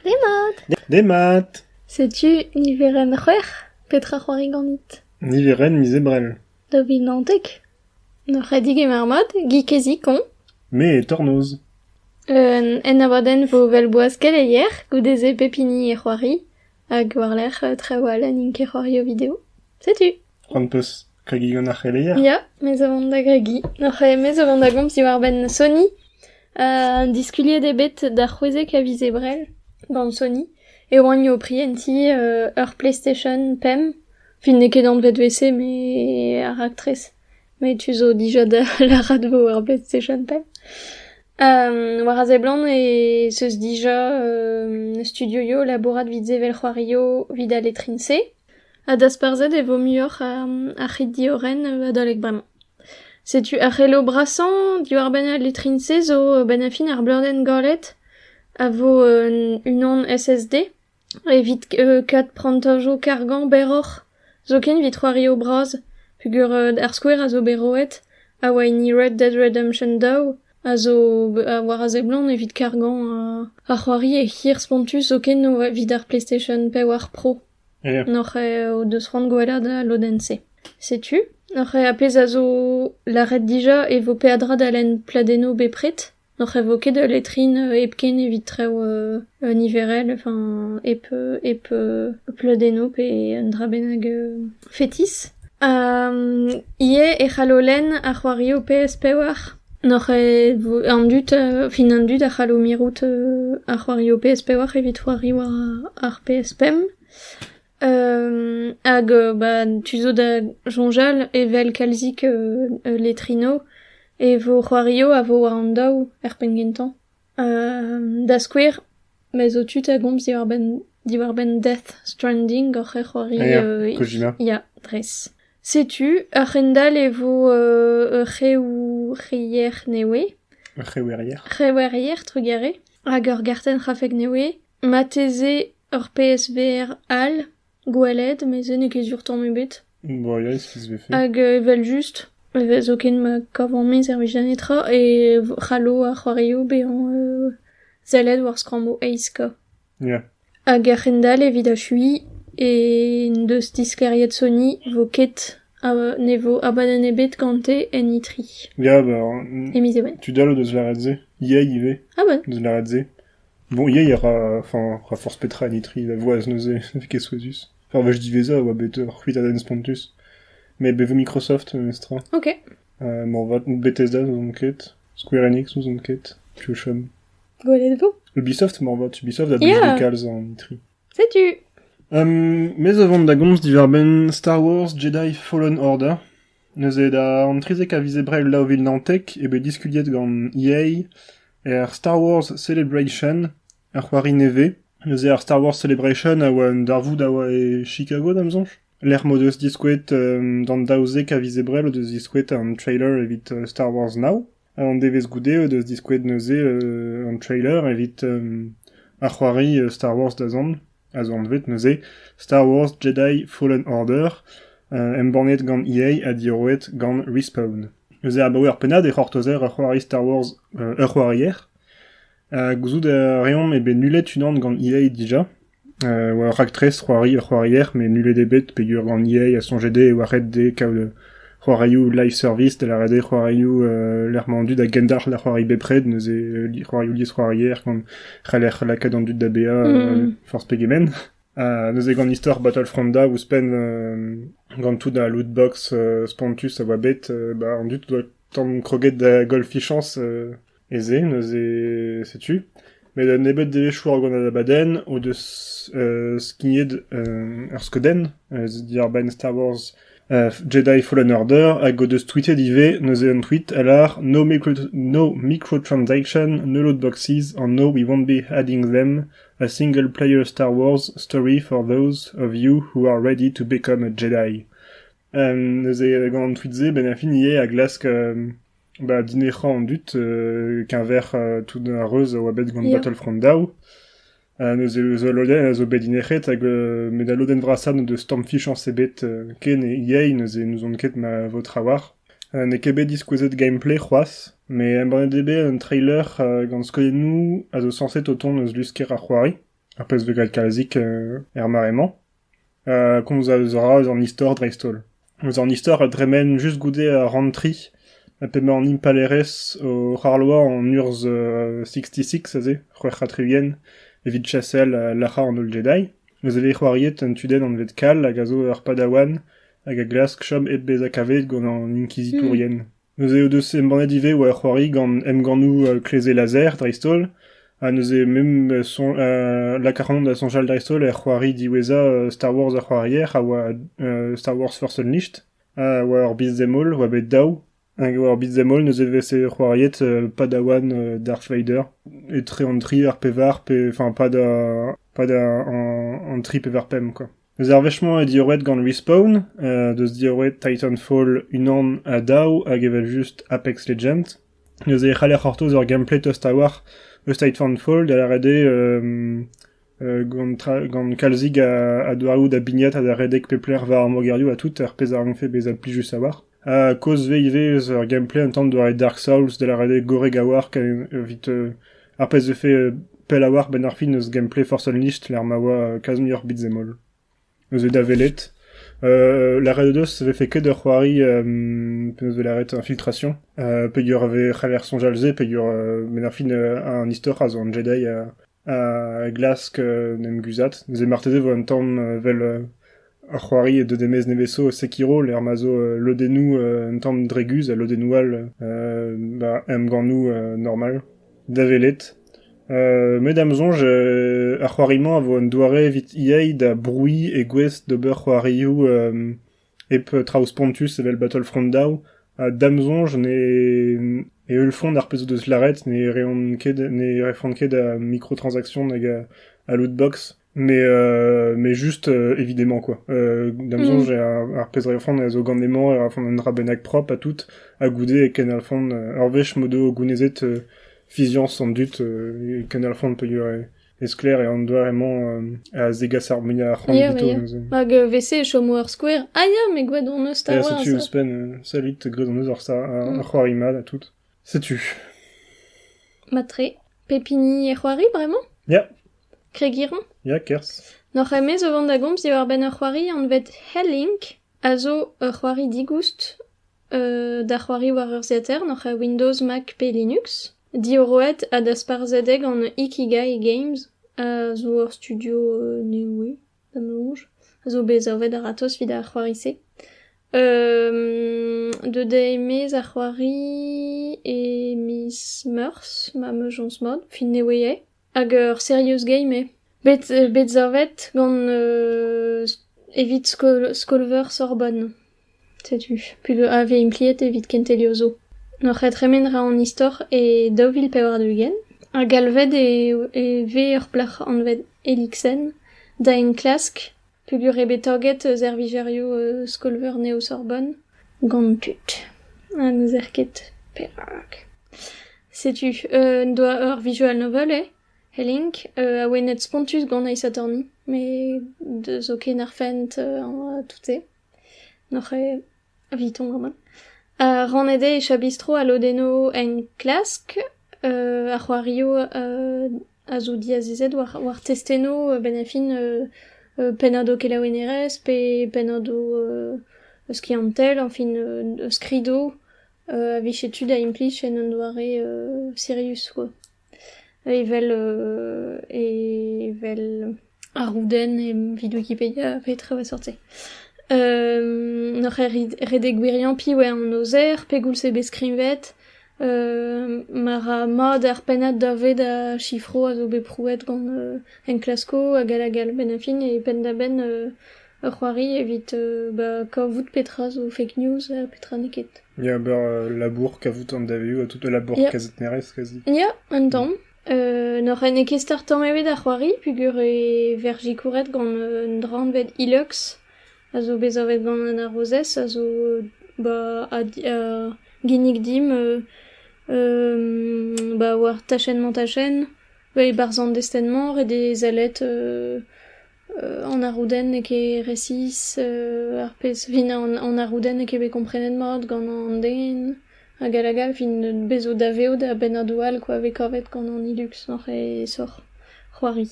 Demat. Demat. Setu niverenn c'hwec'h. Petra c'hoari ganit? Niverenn miz Ebrel. Daou vil naontek. N'oc'h ket digemer mat, gig kezikoñ. Me e tornoz. Un ennabadenn vo well-boaz keleier, goude-se pep hini e c'hoari, hag war-lerc'h trawal n'int ket c'hoario video. Setu. C'hoant 'peus kregiñ gant ar c'heleier? Ya, me zo vont da gregiñ. Oc'h me zo vont da gomz diwar-benn Sony. diskuliet eo bet da c'hwezek a viz Ebrel gant Sony e oant o prientiñ ur PlayStation pemp. Fin n'eo ket anvet WC met ar raktres. Met tu zo dija da lârat vo ar PlayStation pemp. war a seblant ez eus dija studioioù labourat 'vit sevel c'hoarioù 'vit al letrin-se. Ha dasparzhet e vo muioc'h ar c'hi-diorren adalek bremañ. Setu ar c'helo brasañ diwar-benn al letrin-se zo a-benn ar fin ar bleudenn galet a vo unan SSD evit kad prantajoù kargañ berroc'h zoken evit c'hoarioù bras peogwir ar skouer a zo bet roet a oa hini Red Dead Redemption daou. a zo war a seblant evit kargañ ar c'hoari hir spontus zoken evit ar PlayStation pevar Pro. N'oc'h o deus c'hoant gwellañ da lodenn-se. Setu, n'oc'h a pezh a zo lâret dija e vo peadra da lenn pladennoù bepred. N'oc'h vo ket ul letrin hepken evit traoù niverel, enfin hep pladennoù pe un dra bennak fetis. ivez e c'hallo lenn ar c'hoarioù PS pevar N'oc'h ket an dud, fin an dud a c'hallo mirout ar c'hoarioù PS4 evit c'hoari war ar PS5. hag bah tu zo da soñjal evel kalzik letrino e vo c'hoarioù a vo war an daou er penn gentañ. Da skouer, me zo tu da gomz diwar-benn diwar-benn Death Stranding hoc'h ec'hoari ya dres. Setu a-hend-all e vo ur c'hrewerier newe. Ur c'hrewerier. C'hrewerier trugare hag ur gartenn c'hrafek newe. Marteze ur PSVR all. Gwellaet, mes n'eo ket sur tamm ebet. Boaiaus ez vefe. Hag evel-just, e vez zoken ma kavan me servij da netra e c'hallo ar c'hoarioù bezañ euh sellet war skrammoù aizka. Ya. Hag a-hend-all evit achuiñ e n'deus disklêriet Sony vo ket a- ne vo abadenn ebet gante en E3. Ya, bah, e miz Even. tud all o deus lâret se. EA ivez Ah ben, o deus lâret se. Montrial a ra... enfin, a ra forzh petra en itri da voaz neuze, ne vez ket souezhus. Ar wech diwezhañ e oa bet ur c'hwitadenn spontus, met bet 'vo Microsoft memestra. Ok. Uh, moarvat Bethesda n'ouzon ket, Square Enix n'ouzon ket, Piochum. Gwelet 'vo? Ubisoft moarvat, Ubisoft a blij Yeah. kalz en itri. Setu. Um, mes a vont da gomz diwar-benn Star Wars Jedi Fallen Order. Neuze, da an trizek a viz Ebrel daou vil naontek eo bet diskuliet gant EA er Star Wars Celebration, ur c'hoari nevez. Neuze ar Star Wars Celebration a oa un darvoud a oa e Chicago, da'm soñj. Lec'h m'o deus diskouet, d'an daouzek a viz Ebrel, o deus diskouet un trailer evit Star Wars Now. Un devezh goude o deus diskouez neuze an trailer evit ar c'hoari Star Wars da zont, a zo anvet neuze Star Wars Jedi Fallen Order, embannet gant EA ha diorroet gant Respawn. Neuze abaoe ur pennad e c'hortozer ur c'hoari Star Wars, ur c'hoarier. Gouzout a reomp eo bet nullet unan gant EA dija, Oa ur raktres c'hoarier met nullet eo bet peogwir gant Yay a soñje dezhe e oa ret dezhe kaout c'hoarioù live-service, da lâret eo c'hoarioù lec'h-mañ-du da gendalc'h da c'hoari bepred, neuze c'hoarioù liesc'hoarier gant c'heller lakaat an dud da baeañ forzh pegement. Ha neuze gant istor Battlefronta ouzhpenn gant tout al lootbox spontus a oa bet, bah an dud o doa tamm kroget da golfichañs. E-se neuze, setu, met a nebeud devezhioù ar ganañ-abadenn o deus skignet ur skeudenn diàr-benn Star Wars Jedi Fallen Order hag o deus tweetet ivez neuze un tweet a lâr no, no microtransactions, no lootboxes or no we won't be adding them a single-player Star Wars story for those of you who are ready to become a Jedi. neuze gant an tweet-se, ben a fin ivez a glask Ba dinec'hañ an dud keñver tout ar reuz a oa bet gant Battlefront daou neuze zo ul lodenn a zo bet dinec'het hag met al lodenn vrasañ n'o deus tamm fichañs ebet ken yay neuze n'ouzon ket ma vo trawalc'h. N'eo ket bet diskouezet gameplay c'hoazh met embannet eo bet un trailer gant skeudennoù a zo sañset o tont eus lusker ar c'hoari ar pezh 'vez graet kalzik er mare-mañ. komz a ra eus an istor dreist-holl. Eus an istor a dremen just goude ar rantri p'emañ an impalaerez o c'harloañ an urzh sixty-six aze, c'hwec'h ha tri-ugent, evit chasel lac'hañ an holl Jedi. Neuze e vez c'hoariet un tudenn anvet Kal hag a zo ur padawan hag a glask chom hep bezañ kavet gant an inkizitourien. Neuze o deus embannet ivez war ar c'hoari gant emgannoù Kleze Laser dreist-holl, ha neuze mem lakaran da soñjal dreist-holl er c'hoari diwezhañ Star Wars ar c'hoarier a oa Star Wars Force Unleashed, ha war ur Beat'em All oa bet daou, hag war Beat'em All neuze e veze c'hoariet padawan Darth Vader etre an tri ar pevar, pe, enfin, pad an tri pevar pemp, quoi. Eus ar wech-mañ eo diorroet gant Respawn, deus diorroet Titanfall unan ha daou hag evel-just Apex Legends. Neuze e c'haller c'hortoz ur gameplay tost a-walc'h eus Titanfall, da lâret eo gant, gant kalzig a, a doareoù da bignat ha da redek pep lec'h war ar mogerioù ha tout, ar pezh a rankfe bezañ plijus a-walc'h. Kozhve ivez eus ur gameplay un tamm doare Dark Souls da lâret gorrek a-walc'h evit ar pezh 'vefe pell a-walc'h 'benn ar fin eus gameplay Force Unleashed lec'h ma oa kalz muioc'h beat'em all. Eus da welet. lâret o deus e vefe ket ur c'hoari penaos 'vo lâret infiltration peogwir e c'haller soñjal se peogwir 'benn ar fin an istor a zo an Jedi a glask en em guzhat. Neuze marteze e vo un tamm evel ur c'hoari deus des Maies Nevesso Sekiro, lec'h ma zo lodennoù un tamm dreguz ha lodennoù all ba emgannoù normal da welet. Euh, met da'm soñj euh, ar c'hoari-mañ a vo un doare evit EA da brouilh e gouest d'ober c'hoarioù euh, Hep traoù spontus evel Battlefront daou ha da'm soñj ne e heulfont ar pezh o deus lâret ne reont ket ne refont ket a microtransactions hag a lootbox mais euh, mais juste euh, évidemment quoi. Euh, da'm soñj ar, pezh refont a zo gant emañ a refont un dra bennak propre ha tout ha goude e kenalfont ur wech m'o do gounezet fiziañs an dud e kenalfont peogwir E-sklaer eo an doare-mañ a zegas ar muiañ a c'hoant evito neuze. Hag e-vese e chomo ur skouer ah ya mais gwadañneus 'ta oa setu ouzhpenn salud gwadañneus ar c'hoari mat ha tout. Setu. Matre, pep hini e c'hoari bremañ? Ya. Kregiron? Ya, kerzh. N'oc'h emez o vont da gomz diwar-benn ur c'hoari anvet Hellink, a zo ur c'hoari digoust da c'hoari war urzhiataer n'oc'h Windows, Mac pe Linux. Diorroet ha dasparzhet eo gant Ikigai Games a zo ur studio nevez da noz a zo bet savet a-ratozh evit ar c'hoari-se. Deuet eo maez ar c'hoari e miz Meurzh ma meujons mat, fin nevez eo. Hag ur serious game eo. Bet, bet savet gant euh, evit skol skol-veur Sorbonne. Setu put a vez impliet evit kentelioù zo. N'oc'h ket tremen ra an istor e daou vil pevar-ugent ha galvet e, e vez ur plac'h anvet Elixen da enklask Peogwir eo bet taget servijerioù skol-veur Neo-Sorbonne gant tud ha n'ouzer ket perak. Setu en doa ur visual novel eo Helink awenet spontus gant Aes Attorney met 'deus ken ar fent tout-se. N'oc'h ket Eviton gaman. Rannet eo e cha bistro ha lodenno enklask. ar c'hoarioù a zo diazezet war testennoù benn ar fin pennad ho kelaouennerezh pe pennad ho skiantel, añfin skridoù a vije tu da implij en un doare sirius quoi. Evel evel ar roudenn evit wikipedia petra 'oa seurt-se n'oc'h ket redek gwiriañ piv eo an aozer pegoulz eo bet skrivet ma ra mat ar pennad da ved a sifro a zo bet prouet gant enklaskoù hag all hag all benn ar fin e penn-da-benn Ur c'hoari evit kavout petra zo fake news ha petra n'eo ket. Ya, ober labour, kavout an davioù ha tout ul labour Ya. kazetnerezh kazi. Ya, un tamm. Euh, N'oc'h n'eo ket start tamm ebet ar c'hoari peogwir e ver sikouret gant un dra anvet Ilex, a zo bet savet gant an arozez, a zo ba, a, di- a ginnig dimp euh, euh, ba, war tachenn-mañ-tachenn, ba, e barzh an destenn-mañ, ret eo zalet euh, An arroudenn n'eo ket resis, ar pezh fin an arroudenn n'eo ket bet komprenet mat gant an den hag all hag all fin bez zo daveout a bennadoù all kwa vez kavet gant an Hilux oc'h aesoc'h c'hoari.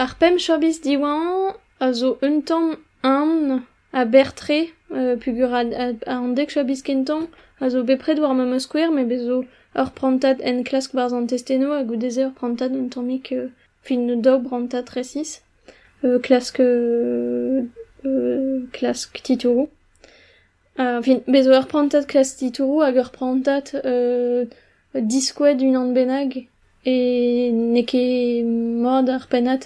Ar pemp chabis diwañ a zo un tamm eñ aber-tre peogwir an dek chabis kentañ a zo bepred war memes skouer met bez zo ur prantad enklask barzh an testennoù ha goude-se ur prantad un tammig... fin daou brantad resis, klask klask titouroù. Fin bez 'zo ur prantad klask titouroù hag ur prantad diskouez d'unan bennak e n'eo ket mat ar pennad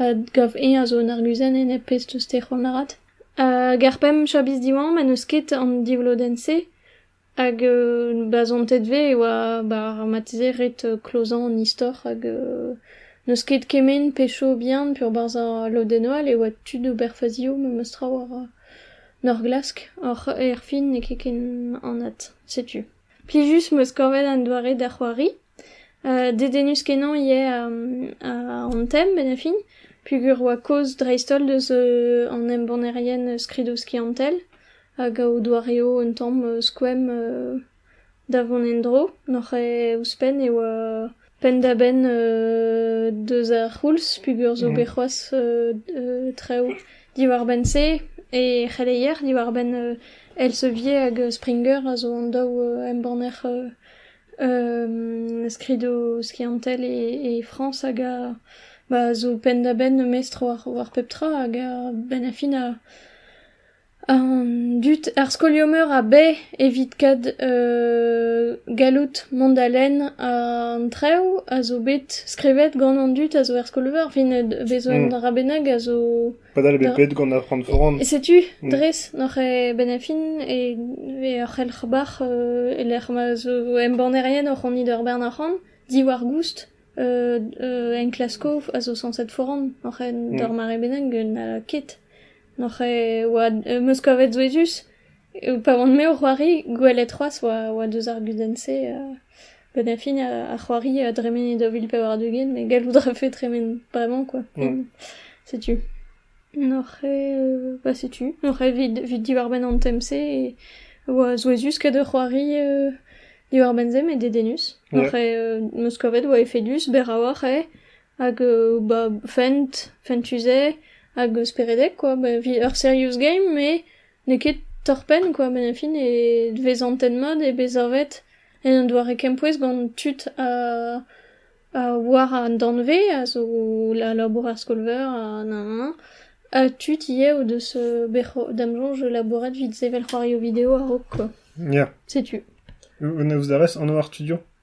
a gav eñ a zo un arguzenn enep pezh 'teus tec'hon avat. Hag ar pemp chabis diwañ ma n'eus ket an divlodenn-se Hag ba zontet vez e oa bar ar marteze ret klozañ an istor hag n'eus ket kement pe chaobian peurbarzh al lodennoù all e oa tud ober fazioù memes tra war ar glask. Oc'h erfin n'eo ket ken anat setu. Plijus 'm eus kavet an doare da c'hoari. Dedennus-kenañ eo an tem bennafi peogwir e oa kaoz dreist-holl deus an embannerien skridoù skiantel hag o doareoù un tamm skoemp da vont en-dro. Nac'h eo ouzhpenn e oa penn-da-benn deus ar c'houlz peogwir zo bet c'hoazh traoù diwar-benn-se e c'heleier diwar-benn Elsevier hag Springer a zo an daou embanner Skridoù skiantel e Frañs hag a zo penn-da-benn memes tro war pep tra hag a-benn ar fin an dud ar skolioù-meur a bae evit kaout galloud mont da lenn an traoù a zo bet skrivet gant an dud a zo er skol-veur. Fin bezañ un dra bennak a zo... Padal eo bet bet gant ar c'hoant foran. E setu, dres, n'oc'h e-benn a fin e ve ur c'helc'h-bac'h e lec'h ma zo embannerien o c'honit ur bern arc'hant diwar goust uh, uh, enklaskoù a zo sañset foran oc'h en mm. d'ur mare bennak na ket. N'oc'h e oa uh, meus kavet souezhus Pa oan-me o c'hoari, gwelet c'hoazh oa deus ar gudenn-se benn ar fin ar c'hoari a dremene daou vil pevar ugent met gallout a rafe tremen bremañ quoi. Setu. Oc'h eo bah setu, oc'h eo evit diwar-benn an tem-se oa souezhus ket o c'hoari diwar-benn se met dedennus. Oc'h eo 'meus kavet oa efedus berraoc'h eo hag bah fent, fent-tu-se hag speredek quoi. Ur serious game met N'eo ket torr-penn kwa, met fin e vez antet-mat, eo bet savet en un doare kempouez gant tud a a war an danvez, a zo a labour ar skol-veur ha nann-nann, ha tud ivez o deus bet c'ho- da'm soñj labouret evit sevel c'hoarioù video a-raok kwa, setu. An evezh anv ar studio ?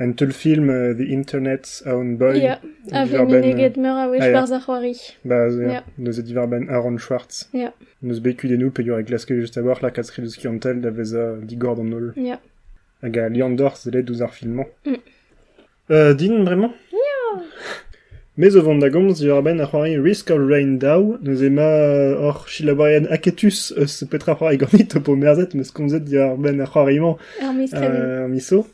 Un teulfilm the internet aon boy. Ya, a vez meneget meur a wech barzh ar c'hoari. Ba se, Ya. neuze diwar-benn Aaron Schwartz. Ya, N'eus bet kudennoù peogwir e klaske just a-walc'h lakaat skridoù skiantel da vezañ digor d'an holl. ya. Hag a liandor sellet ouzh ar film-mañ. Mm. Euh, din bremañ? Me zo vont da gomz diwar-benn ar c'hoari Risk or Rain Daw. Neuze ma hor silabourien aketus eus petra c'hoari ganit ho po merzet meus komzet diwar-benn ar c'hoari-mañ Hermes Krabin. euh, ar miso.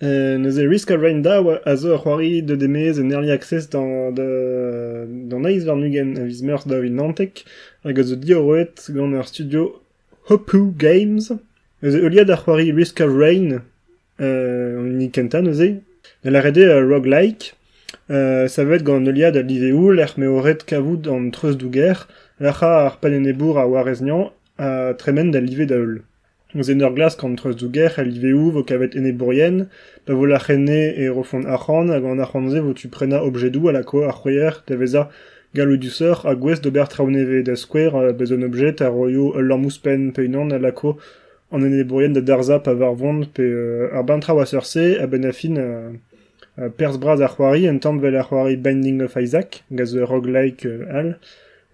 Neuze Risk a raint dav a zo ur c'hoari deuet e-maez en Early Access d'an eizh warn-ugent a viz Meurzh daou vil naontek hag a zo diorroet gant ar studio Hopu Games. Neuze heuliad ar c'hoari Risk of Rain an hini kentañ neuze, da lâret eo roguelike. savet gant heuliad al liveoù lec'h m'eo ret kavout an treuzdouger, lec'hañ ar pennenebour a warez-nyañ ha tremen da live da-heul. Ouzh enor glask an treuzdouger el liveoù vo kavet enebourien, pa vo lac'henne e rofont arc'hant hag an arc'hant-se vo tu prenañ objedoù a lako ar c'hwezher da vezañ galloudusoc'h ha gouest d'ober traoù nevez, da skouer bezañ un objed a roio ul lamm ouzhpenn pe unan a lako an enebourien da darzhañ pa varvont pe ar bamm traoù a-seurt-se a-benn ar fin. Perzh bras ar c'hoari intañvell ar c'hoari Binding of Isaac gant ur roguelike all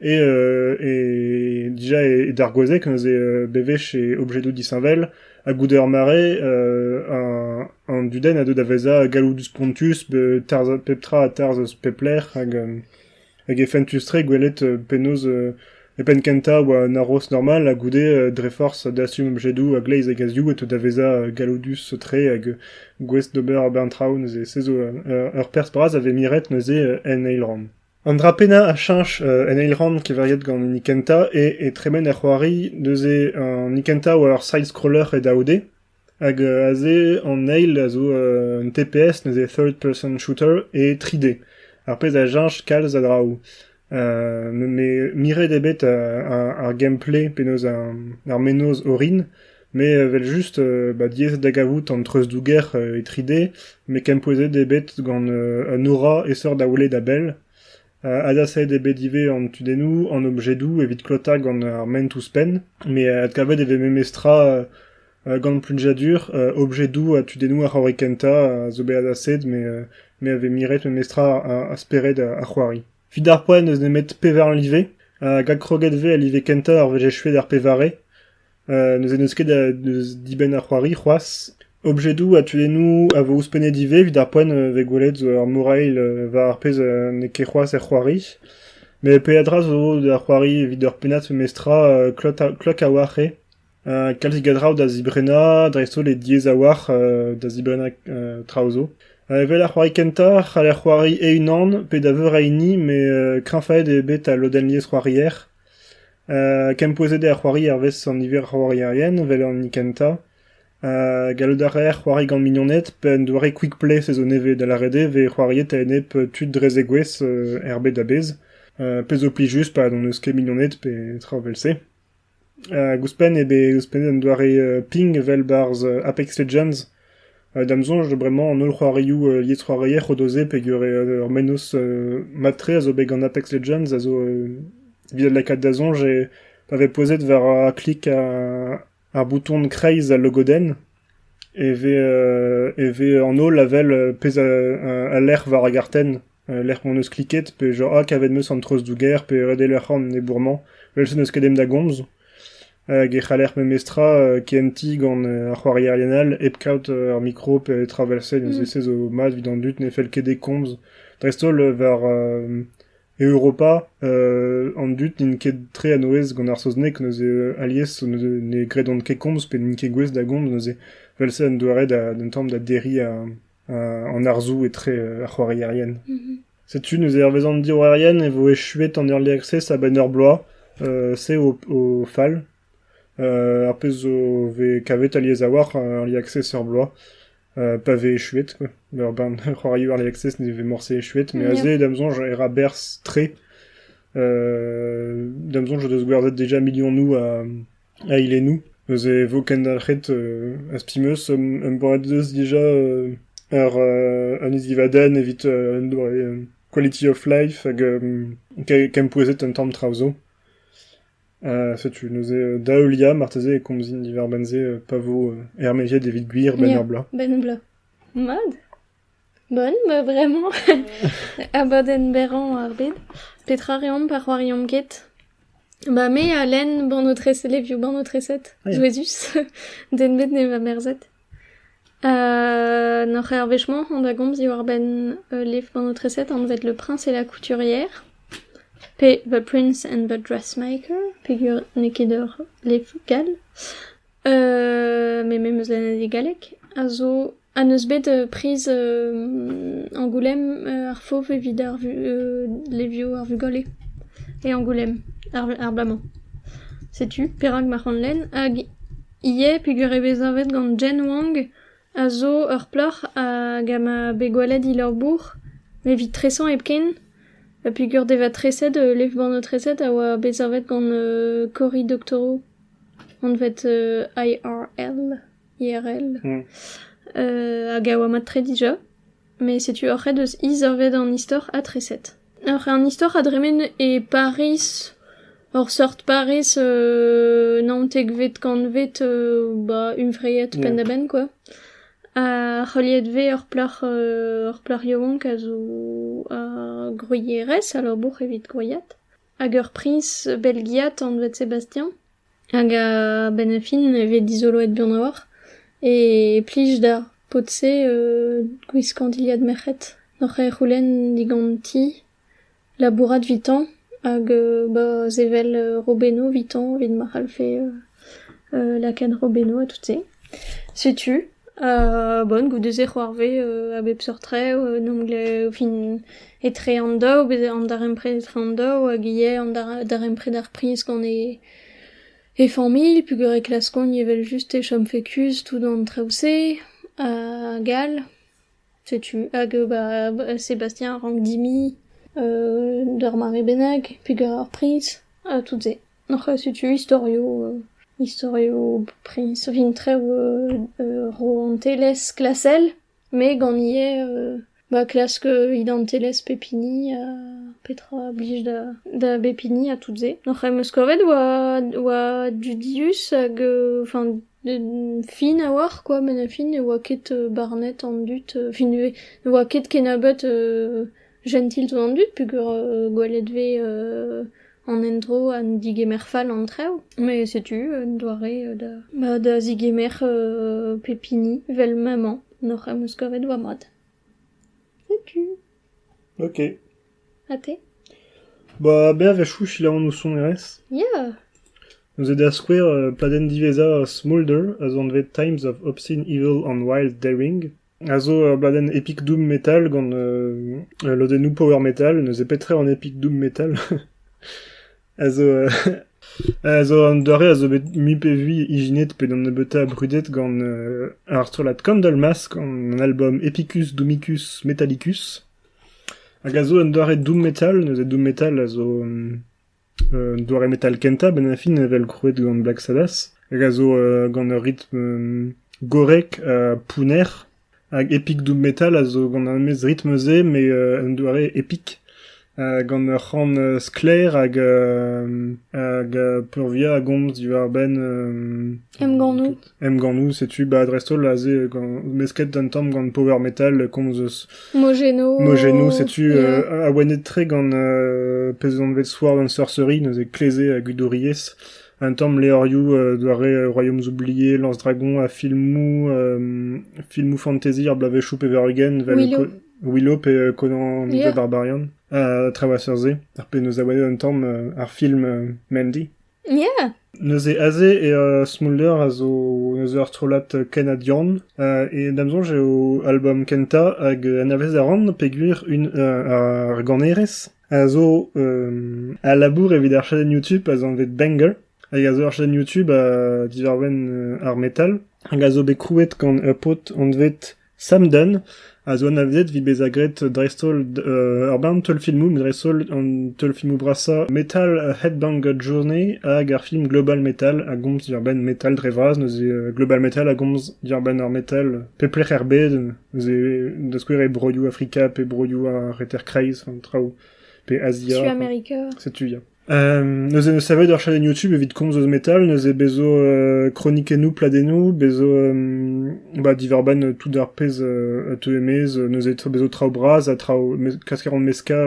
e dija e dargouezhek neuze bewech e objedoù disheñvel ha goude ur mare an dudenn a deu da vezañ galloudus spontus tarzh pep tra a tarzh eus pep lec'h hag Hag e fentus-tre gwelet penaos e penn-kentañ 'oa un haroz normal ha goude dre forzh dastum objedoù a-gleiz e gazioù e teu da vezañ galloudus-tre hag gouest d'ober ar bern traoù neuze. Se zo ur perzh bras a vez miret neuze en eil rann. An dra pennañ a cheñch en eil rann keveriet gant hini kentañ eo e tremen er c'hoari neuze an hini kentañ 'oa ur side-scroller e daou-d. Hag aze an eil a zo un TPS, neuze third-person shooter, e 3D. Ar pezh a cheñch kalz a draoù. Me miret eo bet ar gameplay, penaos ar mennozh orin, met evel-just diaes da gavout an treuzdouger e 3D, met kempouezet eo bet gant un aura aesoc'h da welet a-bell. Adsavet eo bet ivez an tudennoù, an objedoù evit klotañ gant ar ment ouzhpenn, met adkavet e vez memestra gant plujadur objedoù ha tudennoù ar c'hoari kentañ a zo bet adsavet me a vez miret memestra ar spered ar c'hoari. Evit ar poent n'eus nemet pevar live, hag adkroget 'vez al live kentañ ar wech echuet ar pevare. Neuze n'eus ket deus dibenn ar c'hoari c'hoazh. Objedoù ha tudennoù a vo ouzhpennet ivez evit ar poent vez gwelet zo ur morail war ar pezh n'eo ket c'hoazh er c'hoari. Met peadra zo da c'hoari evit ur pennad memestra klok a-walc'h eo. kalzik a draoù da zibrennañ, dreist-holl e diaes a-walc'h da zibrennañ traoù zo. Evel ar c'hoari kentañ c'haller c'hoari e-unan pe da veur a hini met kreñvaet eo bet al lodenn liesc'hoarier. Kempouezet eo ar c'hoari hervez an niver a c'hoarierien evel an hini kentañ. Gallout a reer c'hoari gant mignoned pe un doare quick-play se zo nevez da lâret eo vez c'hoariet a-enep tud dre zegouezh er bed a-bezh pezh zo plijus pa n'hon eus ket mignoned pe traoù evel-se. Ouzhpenn eo bet ouzhpennet un doare ping evel 'barzh Apex Legends Da'm soñj bremañ an holl c'hoarioù liesc'hoarier o do se peogwir ur mennozh mat-tre a zo bet gant Apex Legends a zo evit lakaat da soñj eo pa vez pouezet war klik ar bouton kreiz al logodenn e vez e vez an holl a wel pezh a lec'h war ar gartenn. Al lec'h m'hon eus kliket, pe genre ha kavet 'm eus an treuzdouger pe redel ur c'horn ennebour-mañ, evel-se n'eus ket den da gomz. Hag e c'haller memestra kentiñ gant ar c'hoarierien all hep kaout ar mikro petra 'vel-se, neuze-se zo mat evit an dud ne fell ket dezhe komz. Dreist-holl war Europa an dud n'int ket tre a-nouez gant ar saozneg, neuze alies ne gredont ket komz pe n'int ket gouest da gomz neuze. Vel-se un doare d'un tamm da derriñ an arzoù etre ar c'hoarierien. Setu neuze hervez an diorroerien e vo echuet an erlec'h-se a-benn ur bloaz. se o fal. ar pezh zo vez kavet alies a-walc'h ar lierc'h-se ur bloaz pa vez echuet quoi. ur bern c'hoarioù ar lierc'h-se ne vez morse echuet mais aze da'm soñj e ra berzh tre. da'm soñj o deus gwerzhet déjà milionoù a Eilennoù. Neuze e vo kendalc'het, az pe'meus embanneus dija ar an isdivadenn evit an doare quality of life hag kempouezhet un tamm traoù zo. setu neuze da heuliañ marteze e komzin diwar-benn se pa vo ermaeziet evit gwir benn ur bloaz. Benn ur bloaz. Mat. Bon, bah bremañ abadenn berrañ ar bed. Petra reomp pa c'hoariomp ket? Ba me ha Len, bannoù-treset, levioù bannoù-treset, souezhus, den bet ne va merzet. N'oc'h ket ar wech-mañ on da gomz diwar-benn ul levr bannoù-treset anvet Le Prince et la Couturière, pe The Prince and the Dressmaker, peger n'eo ket ur levr gall. me me 'm eus lennadig galleg a zo ha n'eus bet priz Angoulême ar fav evit ar levioù ar vugale e Angoulême ar bloaz-mañ. Setu perak ma c'han lenn hag ivez peger eo bet savet gant Jen Wang a zo ur plac'h hag a ma bet gwelet he labour evit tresañ hepken ha peger devatreset levr-bannoù-treset a oa bet savet gant Cory Doctorow. anvet IRL, IRL, hag a oa mat-tre dija. Met setu ur c'hed eus izorved an istor atreset. Ur an istor a dremen e Pariz, ur seurt Pariz euh, naontekvet kantved euh, ba hunvreiet penn-da-benn quoi. Ha heuliet vez ur plac'h euh, ur plac'h yaouank a zo ar groierez a labour evit groiad. Hag ur priñs belgiat anvet Sébastien hag a-benn ar fin e vez dizoloet buan a-walc'h e plij da paotr-se gwiskañ dilhad merc'hed oc'h c'houlenn diganti labourat evitañ hag ba sevel robennoù evitañ evit ma c'hallfe Lakenn Robeno ha tout-se. Setu, bon, goude-se c'hoarvez a bep seurt re, en em glev fin etre an daou, bez- an darempred etre an daou hag ivez an dar- darempred ar priz gant e e familh peogwir e klaskont evel-just e chomfe kuzh tout an traoù-se hag all. Setu hag bah Sebastien a rank dimiñ d'ur mare bennak pegañ ar priñs ha tout-se. Setu istorioù istorioù priñs vintrev rouantelezh klasel met gant ivez ba klask identelezh pep hini ha petra a blij da bep hini ha tout-se. Hec'h em eus kavet oa dudius hag enfin. Fin a-walc'h kwa, met a fin ne oa ket barnet an dud, fin ivez ne oa ket kennebeut jentil tout an dud peogwir gwelet vez an endro ha digemer fall an traoù, met setu un doare da ba da zigemer pep hini 'vel maman, n'hoc'h am eus kavet va mad. Setu. Ok. Ha te ? Ba berzh a chouchil anv ho sonerezh. Ya ! Neuze da skouer, pladenn diwezhañ Smolder a zo anvet Times of Obscene Evil and Wild Daring a zo ur bladenn epic doom metal gant lodennoù power metal, neuze petra eo an epic doom metal ? a zo a zo an doare a zo bet mui pe vui ijinet pe d'an nebeutañ brudet gant ar strollad Candle Mask, an album Epicus Domicus Metallicus. hag a zo un doare doom-metal. Neuze doom-metal a zo un doare metal kentañ a-benn ar fin evel krouet gant Black Sabbath, hag a zo gant ur ritm gorrek ha pounner. Hag epic doom-metal a zo gant ar memes ritm-se, mais un doare epic. gant ur c'han sklaer hag, hag peurvuiañ a gomz diwar-benn... Emgannoù. Emgannoù, setu 'ba dreist-holl aze mesket un tamm gant Power Metal komz eus Mogeno. Mogeno, setu yeah. awenet-tre gant uh, pezh anvet Sword and Sorcery, neuze kleze a gudouriezh. Un tamm levrioù uh, doare Royaumes oubliés, Lance-Dragon ha filmoù uh, filmoù fantasy ar bloavezhioù pevar-ugent, vel Willow. Willow pe uh, Conan yeah. the Barbarian, uh, Traversers, ar pe neus awenet un tamm uh, ar film uh, Mandy. Neuze aze eo Smolder a zo neuze ur strollad kanadian e da'm soñj eo album kentañ hag anavezet a ran peogwir un ar ganerez a zo a labour evit ar chadenn YouTube az anvet Banger hag a zo ur chadenn YouTube diwar-benn ar metal hag a zo bet krouet gant ur paotr anvet Samden a zo anavezet evit bezañ graet dreist-holl ur bern teulfilmoù, met dreist-holl an teulfilmoù brasañ metal Headbanger Journey hag ar film Global Metal a gomz diwar-benn metal dre vras, neuze Global Metal a gomz diwar-benn ar metal pep lec'h er bed, neuze da skouer e broioù Afrika pe broioù ar Reter-Kreiz, an traoù, pe Azia. Suamerica. Setu, ya. neuze savet ur chadenn YouTube evit komz eus metal, neuze bezo kronikennoù, pladennoù, bezo ba divarban tout ar pezh a teue maez, neuze bezo traoù bras ha traoù kaskaron meska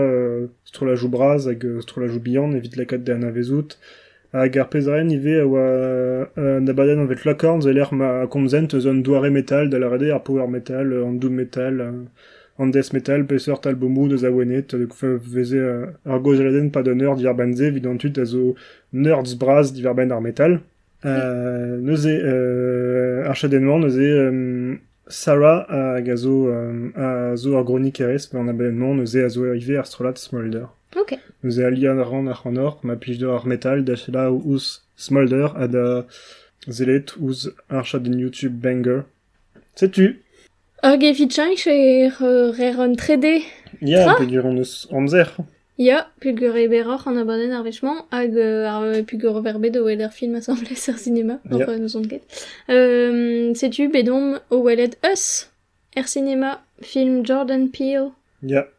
strollajoù bras hag strollajoù bihan evit lakaat da anavezout. Hag ar pezh ren ivez a oa un abadenn anvet Locorns e lec'h ma komzent eus un doare metal, da lâret eo ar power metal, an doom metal, An death metal, peseurt albomoù deus Awenet a veze ur gaozeadenn pad un eur diàr-benn-se evit an tud a zo nerds bras diwar-benn ar metal. neuze ar chadenn-mañ neuze Sarah hag a zo, a zo ur gronikerez, an abenn-mañ neuze a zo ivez ar strollad Smolder. Ok. Neuze aliañ a ran ac'hanoc'h ma plij deoc'h ar metal da selaou ouzh Smolder ha da sellet ouzh ar chadenn YouTube Banger Setu. Hag evit cheñch e reer un trede Ya, Tra? peogwir hon eus amzer. Ya, peogwir eo berroc'h an abadenn ar wech-mañ hag euh, ar, peogwir ober bet o weler film asambles er cinema, hor Yeah. euh, n'ouzon ket. Euh, setu bet omp o welet Us er cinema, film Jordan Peele. Ya,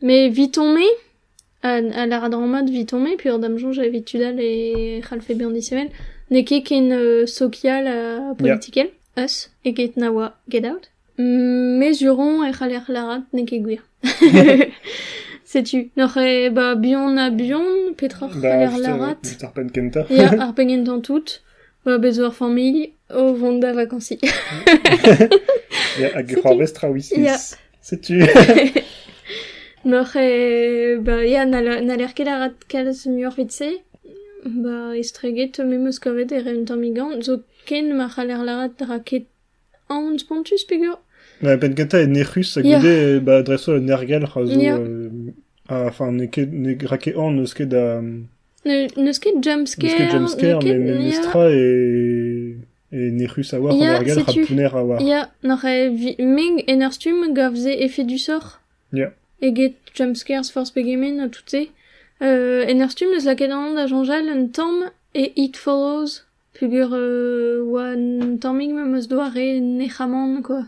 Mais vit-on-me a, a lar a-dra-mat vit-on-me peogwir da'm soñj evit tud all e c'hallfe bezañ disheñvel n'eo ket ken euh, sokial ha politikel us eget na oa get out mezuron e c'haller lârat n'eo ket gwir setu n'oc'h eo ba buan ha buan petra c'haller lârat just ar penn kentañ ya ar penn kentañ tout ba bez ur familh o vont da vakansi ya hag c'hoarvez traoù islais Setu. Noc'h eo... Ba ya, n'haller ket arat kalz muioc'h evit-se. Ba estreget me 'm eus kavet e ren un tammig anv, zoken ma c'haller lâret ra ket anv spontus peger. Ba penn kentañ eo nec'hus ha goude ba dreist-holl un ergelc'h a zo... Enfin n'eo ket ne ra ket anv n'eus ket da... N'eus ket jumpscare. N'eus ket jumpscare, met memestra e... nec'hus a-walc'h an ergel rak pounner a-walc'h. Ya, n'oc'h meg en ur stumm gav se efedusoc'h Ya. eget jumpscares forzh pegement ha tout-se. Euh, en ur stumm eus lakaet an da soñjal un tamm e It Follows peogwir euh, oa un tammig ma 'm eus doare nec'hamant quoi.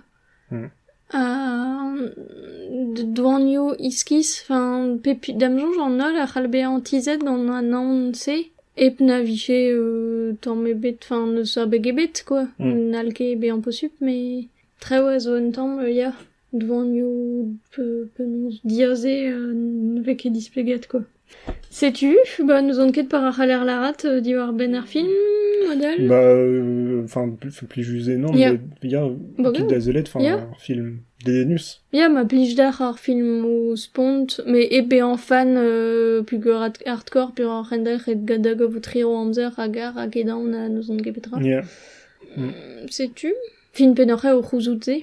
doanioù iskis, enfin pep da'm soñj an holl a c'hall bezañ tizhet gant an aon-se hep na vije tamm ebet, enfin n'eus abeg ebet kwa, n'hall ket bezañ posupl met traoù a zo un tamm ya, doanioù penaos diaze ne vez ket displeget kwa. Setu, bah n'ouzon ket par a c'haller lârat diwar-benn ar film adal. Bah euh, enfin c'est plij just eo non Yeah. mais ya Bah tud ouais. azelet enfin Yeah. ar film dedennus. Ya, ma plij d'ac'h ar filmoù spont, mais e bezañ fan euh, pugur hard- hardcore peoc'h rendalc'h et gada gavout riro amzer hag ar hag edaon ha n'ouzon ket petra. Yeah. Setu, fin pennoc'h eo o c'houzout-se.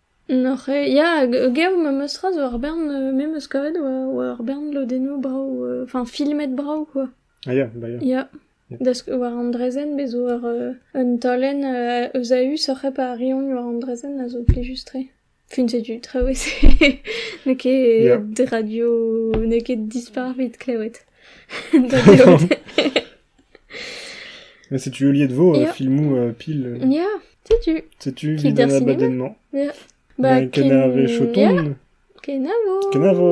N'oc'h ket ya gaou memes tra zo ur bern me 'meus kavet oa ur bern lodennoù brav enfin filmet brav quoi. Ah ya bah ya. Ya da sk- war an draezhenn bez' zo ur un taolenn eus a-us oc'h hep arriont war an draezhenn a zo plijus-tre. Fin setu traoù e se n'eo ket radio n'eo ket dispar 'vit klewet da gaout. Setu heuliet 'vo filmoù pil. Ya, setu. Setu evit an abadenn-mañ. Ya. Ba kenave Choton. Ya. Kenavo. Kenavo.